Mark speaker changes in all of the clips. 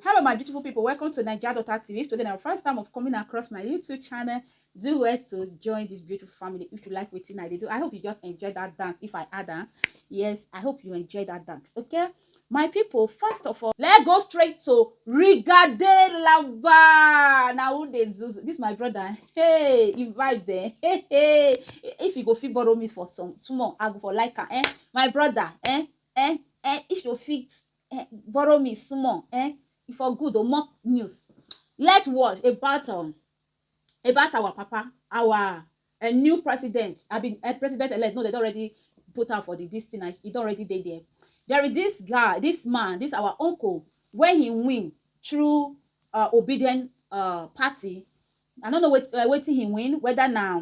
Speaker 1: Hello my beautiful people, welcome to Naija Daughter TV. If today na your first time of coming across my YouTube channel, do well to join this beautiful family if you like wetin I dey do. I hope you just enjoy that dance if I add am. Yes, I hope you enjoy that dance, okay? My people, first of all, let's go straight to Rigade Lava. Na who dey zuzu? This my brother. Hey, he vibe there. Hey, hey. If you go fit borrow me for some small, I go for like am. Eh? My brother, eh? Eh? Eh? If you fit eh, borrow me small eh, e for good o more news let watch about um, about our papa our uh, new president i mean uh, president elect no they don already put am for the this thing and e don already dey there there is this guy this man this our uncle wey he win through uh, obedient uh, party i no know wet, uh, wetin he win whether na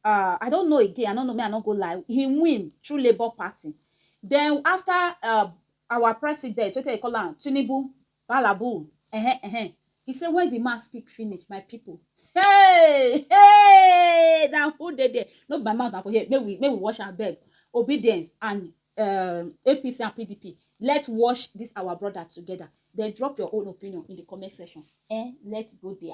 Speaker 1: I don't know again, I no know, me I no go lie, he win through Labour Party. Then after uh, our president, wetin dey call am, Tinubu, Balabu, eh eh, he say when the man speak finish, my people, hey, hey, na who dey there? No be my mouth na for here, make we make we wash am beg. Obedience and um, APC and PDP, let's wash this our brother together. Then drop your own opinion in the comment section. Eh, let's go there.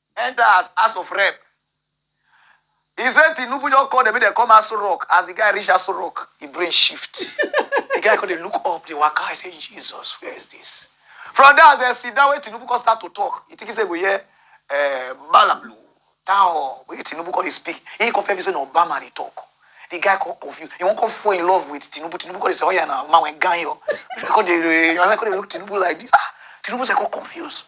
Speaker 1: enter as House of Rep. He say Tinubu just call dem make dem come Aso Rock. As the guy reach Aso Rock, he brain shift. the guy come dey look up, dey waka. I say, Jesus, where is this? From there, as dem sit down, wey Tinubu come start to talk, he think he say go hear uh, Malablu, Tao, wey Tinubu come dey speak. He come feel say na Obama dey talk. The guy come confused. He wan come fall in love with Tinubu. Tinubu come dey say, oh yeah, na man wey ganyo. He come dey, he come dey look Tinubu like this. Ah, Tinubu say come confused.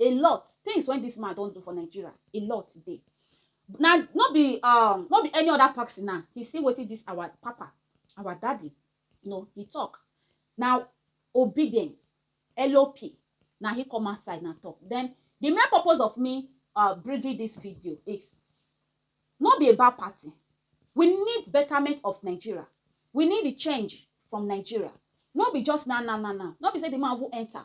Speaker 1: A lot things when this man don do for Nigeria, a lot dey. Na no be um no be any other person now. He see wetin this our papa, our daddy, you know, he talk. Na obedient, LOP, na he come outside na talk. Then the main purpose of me um bringing this video is no be about party. We need betterment of Nigeria. We need the change from Nigeria. No be just now now now now. No be say the man even enter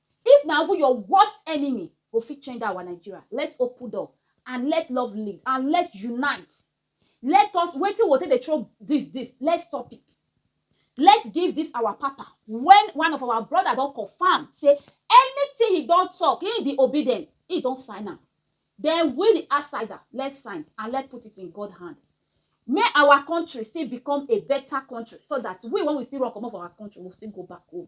Speaker 1: If na even your worst enemy go fit change dat our Nigeria, let open door and let love lead and let unite, let us wetin we go take dey throw dis dis let stop it, let give dis our papa wen one of our brother don confirm sey anything he don talk he di obedient he don sign am den we di outsider let sign and let put it in God hand make our country still become a better country so dat we wen we still run komot for our country we go still go back home.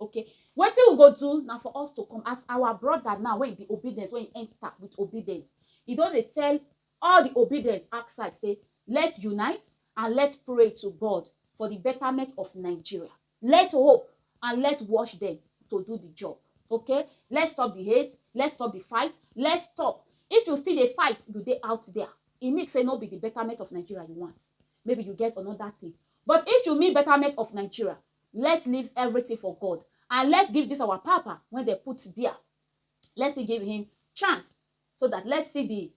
Speaker 1: Okay, wetin we go do na for us to come as our brother now wey be obedience wey enter with obedience. He don dey tell all the obedience outside say let unite and let pray to God for the betterment of Nigeria. Let hope and let wash them to do the job. Okay, let's stop the hate, let's stop the fight, let's stop. If you still dey fight, you dey out there. E mean say no be the betterment of Nigeria you want. Maybe you get another thing. But if you mean betterment of Nigeria, Let leave everything for God and let give this our papa when they put there. Let's still give him chance so that let's see the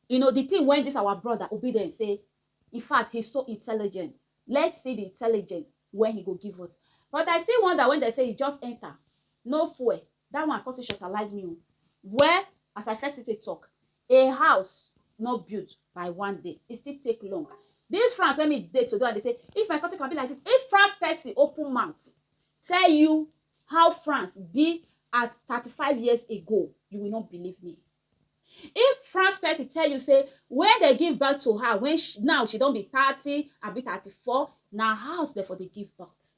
Speaker 1: you know the thing when this our brother obedient say in fact he's so intelligent let's see the intelligent when he go give us but i still wonder when they say he just enter no fuel That one come still shortalize me o. Well, as I first take talk, a house no build by one day. It still take long. This France when me dey today, and they say, if my country can be like this, if France person open mouth, tell you how France be at 35 years ago, you will not believe me. If France person tell you, say, when they give birth to her, when she, now she don't be 30, I be 34, now house therefore they give birth.